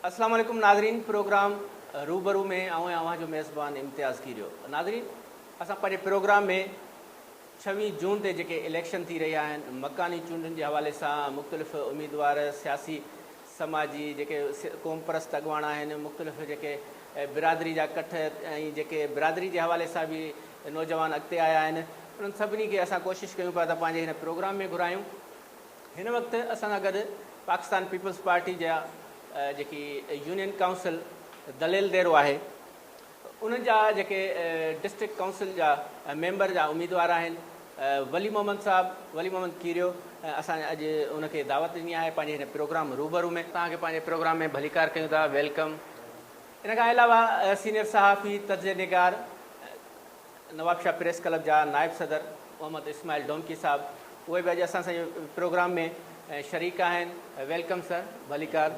السلام عليڪم ناظرين پروگرام روبرو ۾ آئون آهيان اوهان جو ميزبان امتياز ڪيريو ناظرين اسان پنهنجي پروگرام ۾ ڇويهه جون تي جيڪي اليڪشن ٿي رهيا آهن مڪاني چونڊن جي حوالي سان مختلف اميدوار سياسي سماجي جيڪي قومپرست اڳواڻ آهن، مختلف جيڪي برادري جا ڪٺ ۽ جيڪي برادري جي حوالي سان به نوجوان اڳتي آيا آهن، انهن سڀني کي اسان ڪوشش ڪيون پيا ته پنهنجي هن پروگرام ۾ گهرايون. هن وقت اسان سان گڏ پاڪستان پيپلز پارٽي جا جيڪي يونين ڪائونسل دليل ديرو آهي، انهن جا جيڪي ڊسٽرڪٽ ڪائونسل جا ميمبر جا اميدوار آهن ولي محمد صاحب ولي محمد کيريو اسان اڄ ان کي دعوت ڏني آهي پنهنجي هن پروگرام روبرو ۾ توهان کي پنهنجي پروگرام ۾ ڀليڪار ڪيون ٿا ويلڪم ان کان علاوه سينيئر صحافي تجزيه نگار نوابشاهه پريس ڪلب جا نائب صدر محمد اسماعيل ڊومڪي صاحب اهي به اڄ اسان سان پروگرام ۾ شريڪ آهن ويلڪم سر ڀليڪار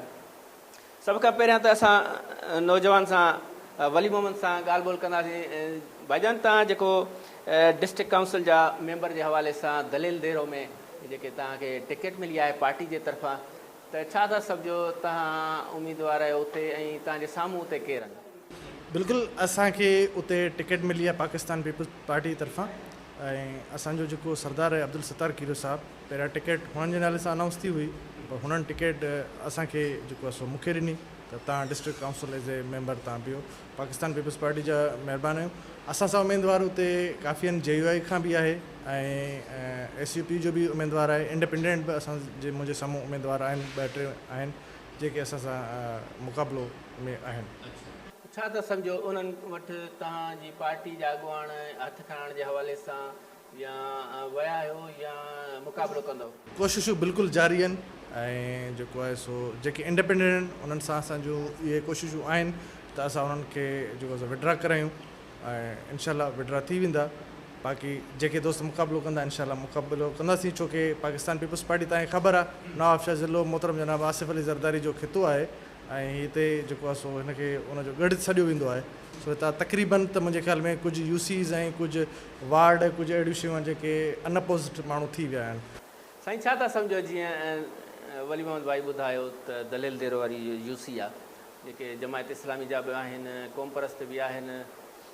سڀ کان پهريان ته اسان نوجوان سان ولي محمد سان ڳالهه ٻولهه ڪنداسين ڀائي جان توهان جيڪو ڊسٽرڪٽ ڪائونسل جا ميمبر جي حوالي سان دليل ديرو ۾ جيڪي توهان کي ٽڪيٽ ملي آهي پارٽي جي طرفان ته ڇا ٿا سمجهو توهان اميدوار آهيو اتي ۽ توهان جي سامهون اتي ڪير آهن. بلڪل اسان کي اتي ٽڪيٽ ملي آهي پاڪستان پيپلز پارٽي جي طرفان ۽ اسان جو جيڪو سردار آهي عبدالستار کيرو صاحب. پهريان ٽڪيٽ هنن جي نالي سان انائونس ٿي هئي پر هنن ٽڪيٽ اسان کي جيڪو آهي سو مون کي ڏني ته تان district council as a member تان بيهو پاڪستان پيپلز پارٽي جا مهربان آهيون اسان سان اميدوار اتي ڪافيئن جي يو آئي کان به آهي ۽ ايس يو پي جو به اميدوار آهي انڊپينڊنٽ به اسان جي منهنجي سامهون اميدوار آهن ٻه ٽي آهن جيڪي اسان سان مقابلو ۾ آهن. ڇا ٿا سمجهو انهن وٽ توهان جي پارٽي جا اڳواڻ هٿ کڻائڻ جي حوالي سان يا ويا آهيو يا مقابلو ڪندؤ. ڪوششون بلڪل جاري آهن ۽ جيڪو آهي سو جيڪي انڊپينڊنٽ آهن انهن سان اسان جون اهي ڪوششون آهن ته اسان انهن کي جيڪو سو وڊرا ڪرايون ۽ انشاء الله وڊرا ٿي ويندا باقي جيڪي دوست مقابلو ڪندا انشاء الله مقابلو ڪنداسين ڇو ڪي پاڪستان پيپلز پارٽي تهان کي خبر آهي نواب شاهه ضلعو محترم جناب آصف علي زرداري جو خطو آهي ۽ هتي جيڪو آهي سو هن کي ان جو ڳڙهه سڏيو ويندو آهي سو هتان تقريبن ته منهنجي خيال ۾ ڪجهه يوسيز ۽ ڪجهه وارڊ ڪجهه اهڙيون شيون آهن جيڪي Unopposed ماڻهو ٿي ويا آهن. سائين ڇا ٿا سمجهو جيئن ولي محمد ڀائي ٻڌايو ته دليل ديرو واري يو سي آ جيڪي جماعت اسلامي جا به آهن قوم پرست به آهن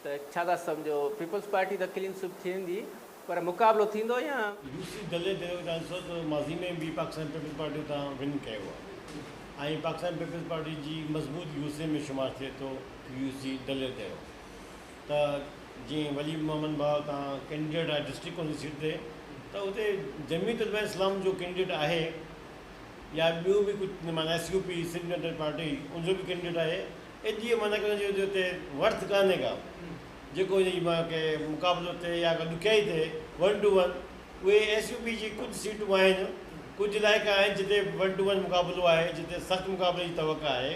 ته ڇا ٿا سمجهو پيپلز پارٽي ته ڪلين سوئپ ٿيندي پر مقابلو ٿيندو يا يو سي دليل ديرو کي ڏسو ته ماضي ۾ به پاڪستان پيپلز پارٽي اتان ون ڪيو آ ۽ پاڪستان پيپلز پارٽي جي مضبوط يو سي ۾ شمار ٿئي ٿو يو سي دليل ديرو ته جيئن ولي محمد ڀاء تان ڪينڊيڊيٽ آهي ڊسٽرڪٽ ڪونسل سيٽ تي ته اتي جميعت علماء اسلام جو ڪينڊيڊيٽ آهي يا ٻيون به ڪجهه معنيٰ S U P Sindh United Party ان جو به ڪينڊيڊيٽ آهي ايس جي معنيٰ ڪي ان جو اتي ورٿ ڪانهي ڪا جيڪو ان جي معنيٰ ڪي مقابلو ٿئي يا ڪا ڏکيائي ٿئي ون ٽو ون اهي ايس يو پي جي ڪجهه سيٽون آهن ڪجهه علائقا آهن جتي ون ٽو ون مقابلو آهي جتي سخت مقابلي جي توقع آهي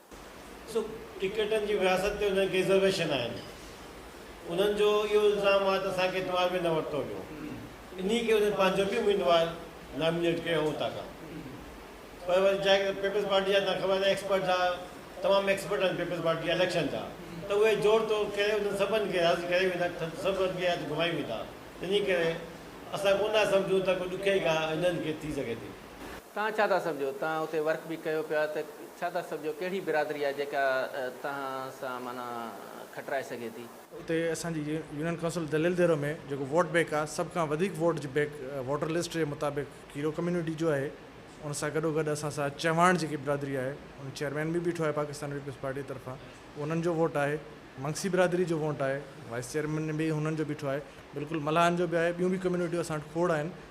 سو ٽڪيٽن جي وراثت تي انهن کي رزرويشن آهن. انهن جو اهو الزام آهي ته اسان کي اعتبار ۾ نه ورتو ويو. انهي ڪري انهن پنهنجو به اميدوار نامينيٽ ڪيو هو اتان کان. پر وري جا پيپلز پارٽي جا تان خبر آهي ته ايڪسپرٽ جا تمام ايڪسپرٽ آهن پيپلز پارٽي جا اليڪشن جا ته اهي جوڙ توڙ ڪري انهن سڀن کي راضي ڪري ويندا سڀ ٻئي هٿ گهمائي ويندا. تنهنجي ڪري اسان ڪونه ٿا سمجهون ته ڪو ڏکيائي ڪا انهن کي ٿي سگهي ٿي. توهان ڇا ٿا سمجهو؟ توهان اتي ورڪ به ڪيو پيا ته ڇا ٿا سمجهو ڪهڙي برادري آهي جيڪا توهان سان معنيٰ کٽرائي سگهي ٿي؟ اتي اسان جي يونين ڪائونسل دليل ديرو ۾ جيڪو ووٽ بينڪ آهي سڀ کان وڌيڪ ووٽ جي بينڪ ووٽر لسٽ جي مطابق کيرو ڪميونٽي جو آهي ان سان گڏو گڏ اسان سان چهواڻ جيڪي برادري آهي ان چيئرمين به بيٺو آهي پاڪستان پيپلز پارٽي طرفان انهن جو ووٽ آهي منگسي برادري جو ووٽ آهي وائيس چيئرمين به هنن جو بيٺو آهي بلڪل ملاحن جو به آهي ٻيون به ڪميونٽيون اسان وٽ کوڙ آهن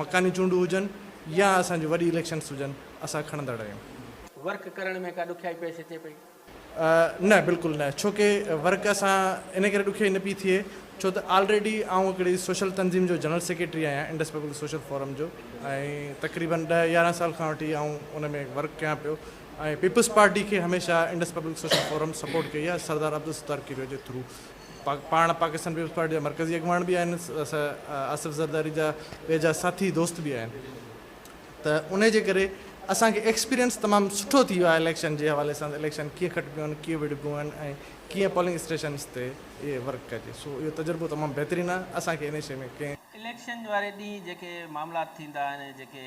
مڪاني چونڊون هجن يا اسان جون وڏي اليڪشنس هجن اسان کڻندڙ آهيون. ورڪ ڪرڻ ۾ ڪا ڏکيائي پيش اچي پئي؟ نه بلڪل نه ڇو ڪي ورڪ اسان ان ڪري ڏکيائي نه پئي ٿئي ڇو ته آلريڊي آئون هڪڙي سوشل تنظيم جو جنرل سيڪريٽري آهيان انڊس پيپلز سوشل فورم جو ۽ تقريبن ڏهه يارهن سال کان وٺي آئون ان ۾ ورڪ ڪيان پيو ۽ پيپلز پارٽي کي هميشه انڊس پيپلز سوشل فورم سپورٽ ڪئي آهي سردار عبدالستار ڪيريو جي ٿرو پاڻ پاڪستان پيپلز پارٽي جا مرڪزي اڳواڻ به آهن آصف زرداري جا ويجها ساٿي دوست به آهن ته انهي جي ڪري اسان کي ايڪسپيرينس تمام سٺو ٿي ويو آهي اليڪشن جي حوالي سان اليڪشن ڪيئن کٽبيون آهن ڪيئن وڙهبيون آهن ۽ ڪيئن پولنگ اسٽيشنس تي اهي ورڪ ڪجي سو اهو تجربو تمام بهترين آهي اسان کي انهي شيء ۾ ڪنهن اليڪشن واري ڏينهن جيڪي معاملات ٿيندا آهن جيڪي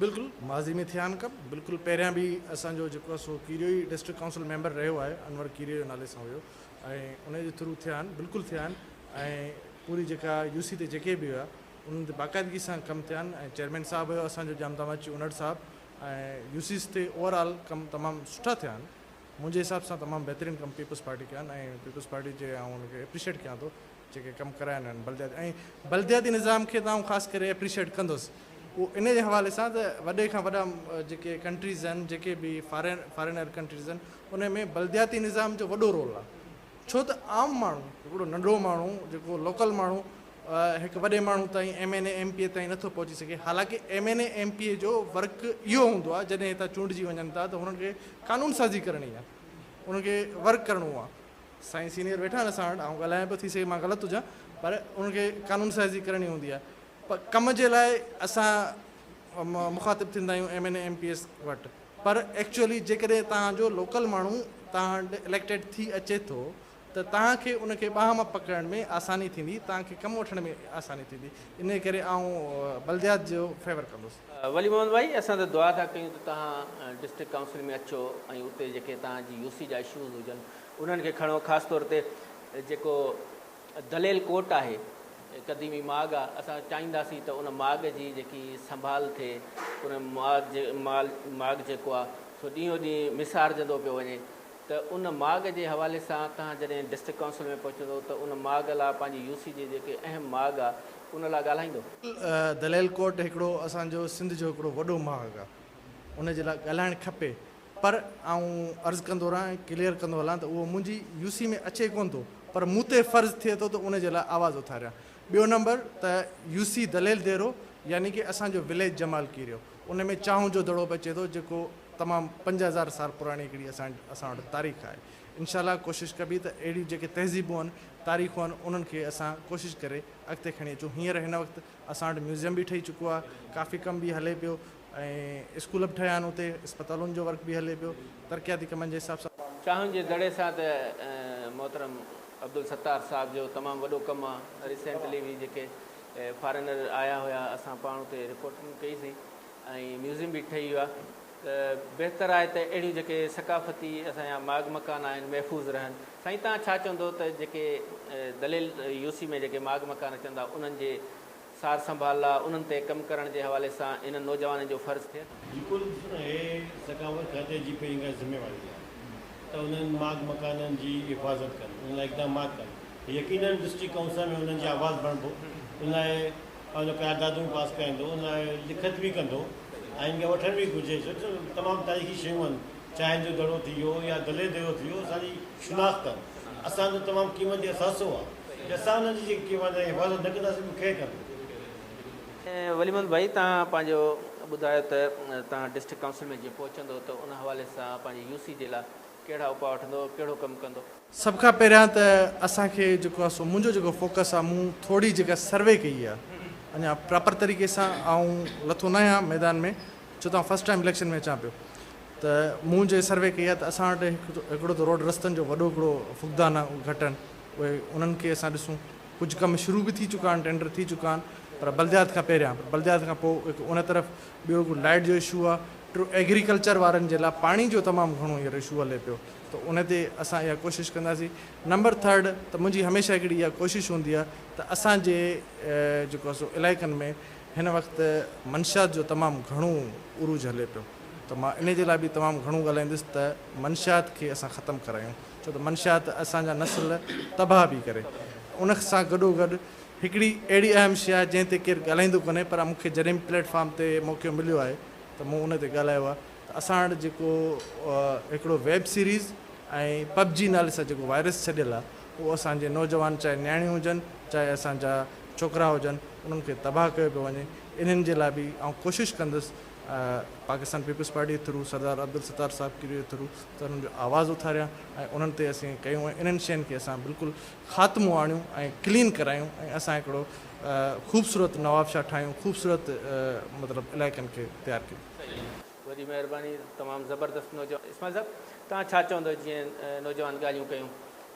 بلڪل ماضي ۾ ٿيا آھن ڪم بلڪل پهريان به اسان جو جيڪو آھي سو ڪيريو ئي ڊسٽرڪٽ ڪائونسل ميمبر رهيو آھي انور ڪيريو نالي سان هيو ۽ ان جي ٿرو ٿيا آھن بلڪل ٿيا آھن ۽ پوري جيڪا يو سي تي جيڪي به هيا انهن تي باقاعدگي سان ڪم ٿيا آھن ۽ چيئرمين صاحب هيو اسان جو جامتامه اچي انڙ صاحب ۽ يو سيز تي اوور آل ڪم تمام سٺا ٿيا آھن منهنجي حساب سان تمام بهترين ڪم پيپلز پارٽي ڪيا آھن ۽ پيپلز پارٽي جي آئون ان کي اپريشيٽ ڪيان ٿو. جيڪي ڪم ڪرايا آهن بلدياتي ۽ بلدياتي نظام کي ته آئون خاص ڪري اپريشيئيٽ ڪندس اهو ان جي حوالي سان ته وڏي کان وڏا جيڪي ڪنٽريز آهن جيڪي به فارين فارينر ڪنٽريز آهن ان ۾ بلدياتي نظام جو وڏو رول آهي ڇو ته عام ماڻهو هڪڙو ننڍڙو ماڻهو جيڪو لوڪل ماڻهو هڪ وڏي ماڻهو تائين M N A M P A تائين نٿو پهچي سگهي حالانڪ M N A M P A جو ورڪ اهو هوندو آهي جڏهن هتان چونڊجي وڃن ٿا ته هنن کي قانون سازي ڪرڻي آهي انهن کي ورڪ ڪرڻو آهي سائين سينيئر ويٺا آهن اسان وٽ آئون ڳالهايان پيو ٿي سگهي مان غلط هجان پر ان کي قانون سازي ڪرڻي هوندي آهي پر ڪم جي لاء اسان مخاطب ٿيندا آهيون M N A M P S وٽ پر ايڪچوئلي جيڪڏهن تهان جو لوڪل ماڻهو تهان وٽ اليڪٽيڊ ٿي اچي ٿو ته تهان کي ان کي ٻانهن مان پڪڙڻ ۾ آساني ٿيندي تهان کي ڪم وٺڻ ۾ آساني ٿيندي ان ڪري آئون بلديات جو فيور ڪندس ولي محمد ڀائي اسان ته دعا ٿا ڪيون ته توهان ڊسٽرڪٽ ڪائونسل ۾ اچو ۽ اتي جيڪي توهان جي يو سي جا اشوز هجن انهن کي کڻو خاص طور تي جيڪو دليل ڪوٽ آهي قديمي ماڳ آهي اسان چاهينداسين ته ان ماڳ جي جيڪي سنڀال ٿئي ان ماڳ جي مال ماڳ جيڪو آهي سو ڏينهون ڏينهن مسارجندو پيو وڃي ته ان ماڳ جي حوالي سان توهان جڏهن ڊسٽرڪٽ ڪائونسل ۾ پهچندو ته ان ماڳ لا پنهنجي يو سي جي جيڪي اهم ماڳ آ ان لا ڳالهائيندو. دليل ڪوٽ هڪڙو اسان جو سنڌ جو هڪڙو وڏو ماڳ آ ان جي لا ڳالهائڻ کپي پر آئون عرض ڪندو رهان ۽ ڪليئر ڪندو هلان ته اهو منهنجي يو سي ۾ اچي ڪونه ٿو پر مون تي فرض ٿئي ٿو ته ان جي لا آواز اٿاريان. ٻيو نمبر ته يو سي دليل ديرو يعني ڪي اسان جو وليج جمال ڪيريو. ان ۾ چانهه جو دڙو به اچي ٿو جيڪو تمام پنج هزار سال پراڻي هڪڙي اسان اسان وٽ تاريخ آهي انشاء الله ڪوشش ڪبي ته اهڙيون جيڪي تهذيبون آهن تاريخون آهن انهن کي اسان ڪوشش ڪري اڳتي کڻي اچون هينئر هن وقت اسان وٽ ميوزيم به ٺهي چڪو آهي ڪافي ڪم به هلي پيو ۽ اسڪول به ٺهيا آهن اتي اسپتالن جو ورڪ به هلي پيو ترقياتي ڪمن جي حساب سان چانهه جي دڙي سان ته محترم عبدالستار صاحب جو تمام وڏو ڪم آهي ريسينٽلي به جيڪي فارينر آيا هيا اسان پاڻ اتي رپورٽنگ ڪئي سي ۽ ميوزيم به ٺهي ويو آهي ته بهتر آهي ته اهڙيون جيڪي ثقافتي اسان جا ماڳ مڪان آهن محفوظ رهن سائين توهان ڇا چوندو ته جيڪي دليل يو سي ۾ جيڪي ماڳ مڪان اچن ٿا انهن جي سار سنڀال لا انهن تي ڪم ڪرڻ جي حوالي سان هنن نوجوانن جو فرض ٿئي ٿو. بلڪل اهي ثقافت کاتي جي پهرين کان ذميواري آهي ته انهن ماڳ مڪانن جي حفاظت ڪن، ان لاء اقدامات ڪن، يقينن ڊسٽرڪٽ ڪائونسل ۾ انهن جي آواز بڻبو، ان لاء پنهنجو قراردادون پاس ڪرائيندو، ان لاء لکت به ڪندو ۽ ان کي وٺڻ به گهرجي ڇو ته تمام تاريخي شيون آهن، چانهن جو دڙو ٿي ويو يا دلي ديرو ٿي ويو، اسان جي شناخت آهن، اسان جو تمام قيمتي اثاثو آهي، جي اسان انهن جي جيڪي حفاظت نه ڪنداسين ته ڪير ڪندو؟ ولي محمد ڀائي توهان پنهنجو ٻڌايو ته توهان ڊسٽرڪٽ ڪائونسل ۾ جيئن پهچندو ته ان حوالي سان پنهنجي يو سي جي لاء ڪهڙا اپاء وٺندو ڪهڙو ڪم ڪندو. سڀ کان پهريان ته اسان کي جيڪو آ سو منهنجو جيڪو فوڪس آ مون ٿوري جيڪا سروي ڪئي آ اڃا پراپر طريقي سان آئون لٿو نه آهيان ميدان ۾ ڇو ته آئون فرسٽ ٽائيم اليڪشن ۾ اچان پيو ته مون جي سروي ڪئي آ ته اسان وٽ هڪڙو ته روڊ رستن جو وڏو هڪڙو فقدان آ گهٽ آهن اهي انهن کي اسان ڏسون ڪجهه ڪم شروع به ٿي چڪا آهن، ٽينڊر ٿي چڪا آهن پر بلديات کان پهريان پر بلديات کان پوء هڪ ان طرف ٻيو هڪ لائيٽ جو اشو آهي، ٽيون ايگريڪلچر وارن جي لاء پاڻي جو تمام گهڻو هينئر اشو هلي پيو ته ان تي اسان اها ڪوشش ڪنداسين. نمبر ٿرڊ ته منهنجي هميشه هڪڙي اها ڪوشش هوندي آهي ته اسان جي جيڪو آهي سو علائقن ۾ هن وقت منشيات جو تمام گهڻو عروج هلي پيو ته مان ان جي لاء به تمام گهڻو ڳالهائيندس ته منشيات کي اسان ختم ڪرايون. ڇو ته منشيات اسان جا نسل تباهه پي ڪري. ان سان گڏو گڏ هڪڙي اهڙي اهم شيء آهي جنهن تي ڪير ڳالهائيندو ڪونهي پر مون کي جڏهن به پليٽ فارم تي موقعو مليو آهي ته مون ان تي ڳالهايو آهي ته اسان وٽ جيڪو هڪڙو ويب سيريز ۽ پب جي نالي سان جيڪو وائرس ڇڏيل آهي اهو اسان جي نوجوان چاهي نياڻيون هجن چاهي اسان جا ڇوڪرا هجن انهن کي تباهه ڪيو پيو وڃي انهن جي لاء به آئون ڪوشش ڪندس پاڪستان پيپلز پارٽي جي ٿرو سردار عبدالستار صاحب کيري جي ٿرو ته انهن جو آواز اٿاريا ۽ انهن تي اسين ڪيون ۽ انهن شين کي اسان بلڪل خاتمو آڻيون ۽ ڪلين ڪرايون ۽ اسان هڪڙو خوبصورت نوابشاهه ٺاهيون خوبصورت مطلب علائقن کي تيار ڪيون. صحيح وڏي مهرباني تمام زبردست نوجوان اسماعيل صاحب توهان ڇا چوندو جيئن نوجوان ڳالهيون ڪيون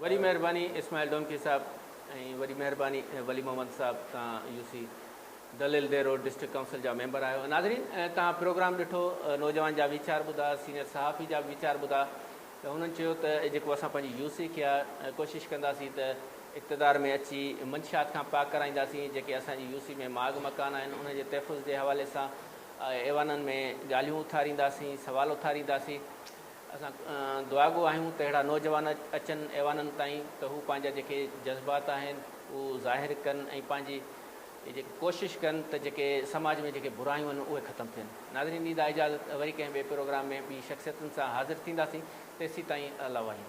وڏي مهرباني اسماعيل ڊونڪي صاحب ۽ وڏي مهرباني ولي محمد صاحب تان U C Dalil Dero district council جا ميمبر آهيو ناظرين تان پروگرام ڏٺو نوجوان جا ويچار ٻڌا سينيئر صحافي جا ويچار ٻڌا ته هنن چيو ته جيڪو اسان پنهنجي يو سي کي ڪوشش ڪنداسين ته اقتدار ۾ اچي منشيات کان پاڪ ڪرائينداسين جيڪي اسان جي يو سي ۾ ماڳ مڪان آهن انهن جي تحفظ جي حوالي سان ايوانن ۾ ڳالهيون اٿارينداسين سوال اٿارينداسين اسان دعاگو آهيون ته اهڙا نوجوان اچن ايوانن تائين ته هو پنهنجا جيڪي جذبات آهن اهو ظاهر ڪن ۽ پنهنجي جيڪي ڪوشش ڪن ته جيڪي سماج ۾ جيڪي برايون آهن اهي ختم ٿين. ناظرين ڏيندا اجازت وري ڪنهن ٻئي پروگرام ۾ ٻي شخصيتن سان حاضر ٿينداسين تيسيتائين الله وحيد.